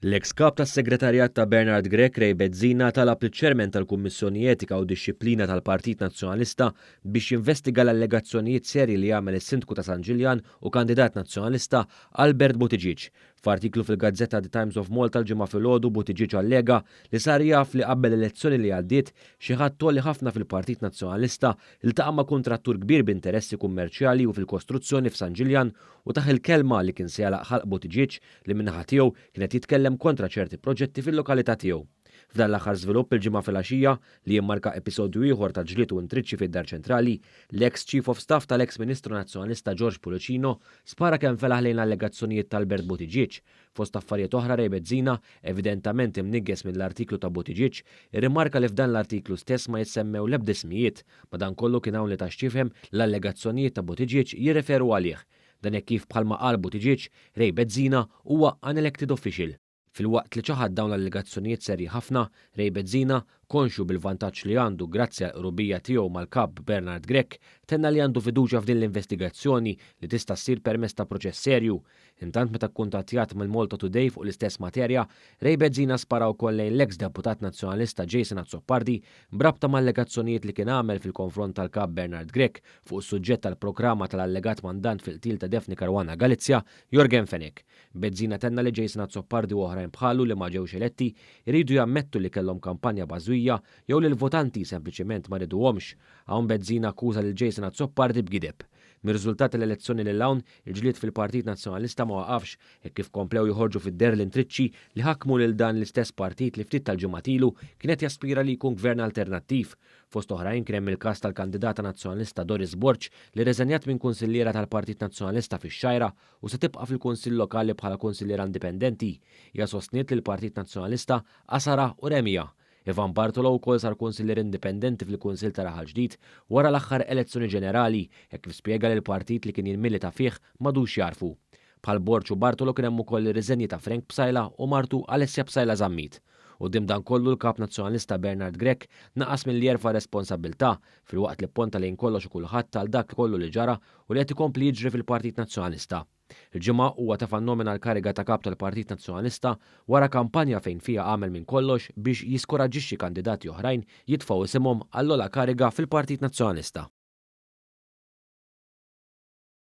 L-eks Kap tas-Segretarjat ta' Bernard Grech Ray Bezzina talab liċ-Chairman tal-Kummissjoni Etika u Dixxiplina tal-Partit Nazzjonalista biex jinvestiga l-allegazzjonijiet serji li għamel is-Sindku ta' San Ġiljan u kandidat Nazzjonalista Albert Buttigieg. F'artiklu fil-gazzetta The Times of Malta l-Ġimgħa filgħodu Buttigieg allega li sar jaf li qabel l-elezzjoni li għaddiet xi ħadd għoli ħafna fil-Partit Nazzjonalista ltaqa' ma' kuntrattur kbir b'interessi kummerċjali u fil-kostruzzjoni f'San Ġiljan u tah il-kelma li kien se jagħlaq ħalq Buttigieg li min-naħa tiegħu kien qed jitkellem kontra ċerti proġetti fil-lokalità tiegħu. F'dan l-aħħar żvilupp il-Ġimgħa filgħaxija, li jimmarka episodju ieħor ta' ġlied u intriċċi fid-Dar Ċentrali, l-eks Chief of Staff tal-eks Ministru Nazzjonalista George Pullicino spara kemm felaħ lejn l-allegazzjonijiet t'Albert Buttigieg, Fost affarijiet oħra Ray Bezzina, evidentament imniggħes mill-artiklu ta' Buttigieg, irrimarka li f'dan l-artiklu stess ma jissemmew l-ebda ismijiet, madankollu kien hawn li ta x'jifhem li l-allegazzjonijiet ta' Buttigieg jirreferu għalih. Dan hekk kif bħalma qal Buttigieg, Ray Bezzina huwa unelected official. Filwaqt li ċaħad dawn l-allegazzjonijiet serji ħafna, Ray Bezzina, Konxju bil-vantaġġ li għandu grazzi għall-qrubija tiegħu mal-Kap Bernard Grech, tenna li għandu fiduċja f'din l-investigazzjoni li tista' ssir permezz ta' proċess serju. Intant meta kkuntattjat mill-Malta Today fuq l-istess materja, Ray Bezzina spara wkoll lejn l-eks Deputat Nazzjonalista Jason Azzopardi b'rabta m'allegazzjonijiet li kien għamel fil-konfront tal-Kap Bernard Grech fuq is-suġġett tal-programa tal-allegat mandant fil-qtil ta' Daphne Caruana Galizia, Yorgen Fenech. Bezzina tenna li Jason Azzopardi u oħrajn bħalu li ma ġewx eletti jridu jammettu li kellhom kampanja bażwija jew li l-votanti sempliċement ma riduhomx. Hawn Bezzina akkuża lil Jason Azzopardi b'gideb. Mir-riżultat tal-elezzjoni lil hawn, il-ġlied fil-Partit Nazzjonalista ma waqafx hekk kif komplew joħorġu fid-deher l-intriċċi li ħakmu lil dan l-istess partit li ftit tal-ġimgħat ilu kien qed jaspira li jkun Gvern alternattiv. Fost oħrajn kien hemm il-każ tal-kandidata Nazzjonalista Doris Borg li rriżenjat minn Kunsilliera tal-Partit Nazzjonalista fix-Xgħajra u se tibqa' fil-Kunsill Lokali bħala Kunsilliera Indipendenti. Hija sostniet li l-Partit Nazzjonalista għasarha u remiha. Ivan Bartolo wkoll sar Kunsillier Indipendenti fil-Kunsill ta' Raħal Ġdid wara l-aħħar elezzjoni ġenerali hekk kif spjega li l-partit li kien jilmilita fih m'għadux jagħrfu. Bħal Borg u Bartolo kien hemm ukoll ir-riżenji ta' Frank Psaila u martu Alessia Psaila Zammit. Quddiem dan kollu l-Kap Nazzjonalista Bernard Grech naqas milli jerfa' r-responsabbiltà filwaqt li pponta lejn kollox u kulħadd għal dak kollu li ġara u li qed ikompli jiġri fil-Partit Nazzjonalista. Il-Ġimgħa huwa tefa' n-nomina l-kariga ta' Kap tal-Partit Nazzjonalista wara kampanja fejn fiha għamel minn kollox biex jiskuraġġixxi kandidati oħrajn jitfgħu isimhom għall-ogħla kariga fil-Partit Nazzjonalista.